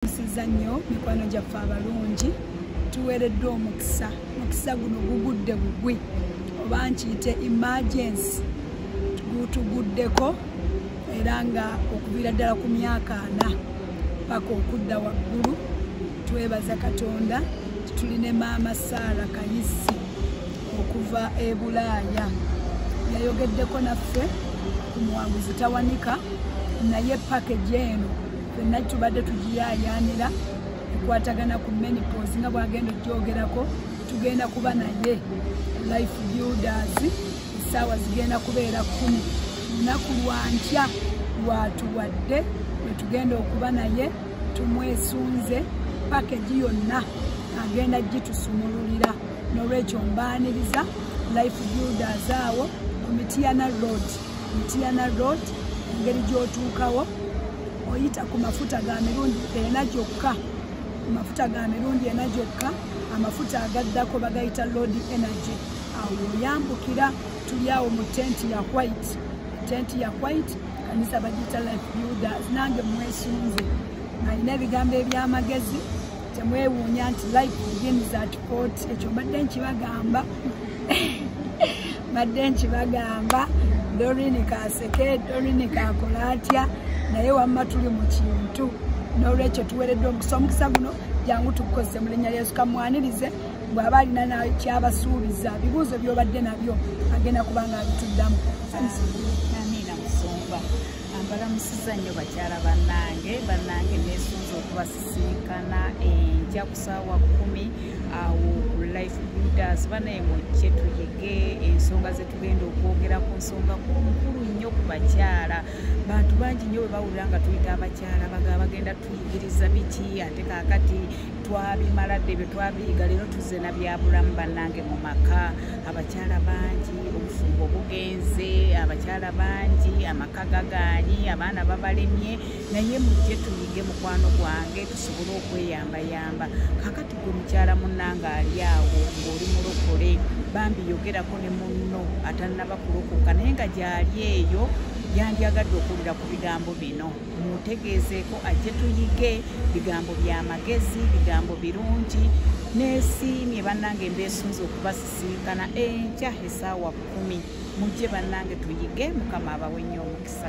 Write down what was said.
tusiza nnyo mikwano gyaffe abalungi tuweereddwa omukisa omukisa guno gugudde bugwi oba nkiyite emergency gutuguddeko era nga okuviira ddala ku myaka ana paka okudda waggulu twebaza katonda tuli ne maama saara kayisi okuva e bulaaya yayogeddeko naffe ku muwanguzi tawanika naye pakage eno fenna tubadde tugiyayaanira ekwatagana ku menipos nga bwagenda okyogerako tugenda kuba naye life builders essaawa zigenda kubeera kumi lunaku lwankya lwatuwadde wetugenda okuba naye tumwesunze pakegi yonna agenda gitusumululira nolwekyo mbaaniriza life builders awo ku mitiyana road mitiana road engeri gyotuukawo oyita ku mafuta ga mirundi ena gyokka ku mafuta ga mirundi ena gyokka amafuta agaddako bagayita lord energy awo oyambukira tuli awo mu tenti ya white tenti ya white kanisa bagiyita life builders nange mwesunze nalina ebigambo ebyamagezi temwewuunya nti life begins at court ekyo mbadde nkibagamba mbadde nkibagamba dorini kaseke dorini kakola atya naye wamma tuli mu kintu n'olwekyo tuweereddwa omukisa omukisa guno jangu tukukozese mu linnya lyesu kamwanirize bw'aba alina nakyabasuubiza bibuuzo by'obadde nabyo agenda kubanga abituddamu mbalamusiza nnyo bakyala bannange bannange nesunza okubasisinkana enkya ku saawa kumi awo ku life builders banaye mujje tuyige ensonga zetugenda okwogera ku nsonga kunkulu nnyo ku bakyala bantu bangi nnyo bwebawulira nga tuyita abakyala baga bagenda tuyigiriza biki ate kakati twabimala dde bye twabiyiga leero tuze na byabulamu bannange mu maka abakyala bangi obufumbo bugenze abakyala bangi amaka gagaanyi abaana babalemye naye mujje tuyige mukwano gwange tusobole okweyambayamba kakati gwe mukyala munanga ali awo ng'oli mulokole bambi yogerako ne munno atannabakulokoka naye nga gyali eyo yandyagadde okuwulira ku bigambo bino mutegeezeeko ajje tuyige bigambo bya magezi bigambo birungi nesiimye bannange mbeesunze okubasisinkana enkya esaawa kumi mujje bannange tuyige mukama abawe nnyo omukisa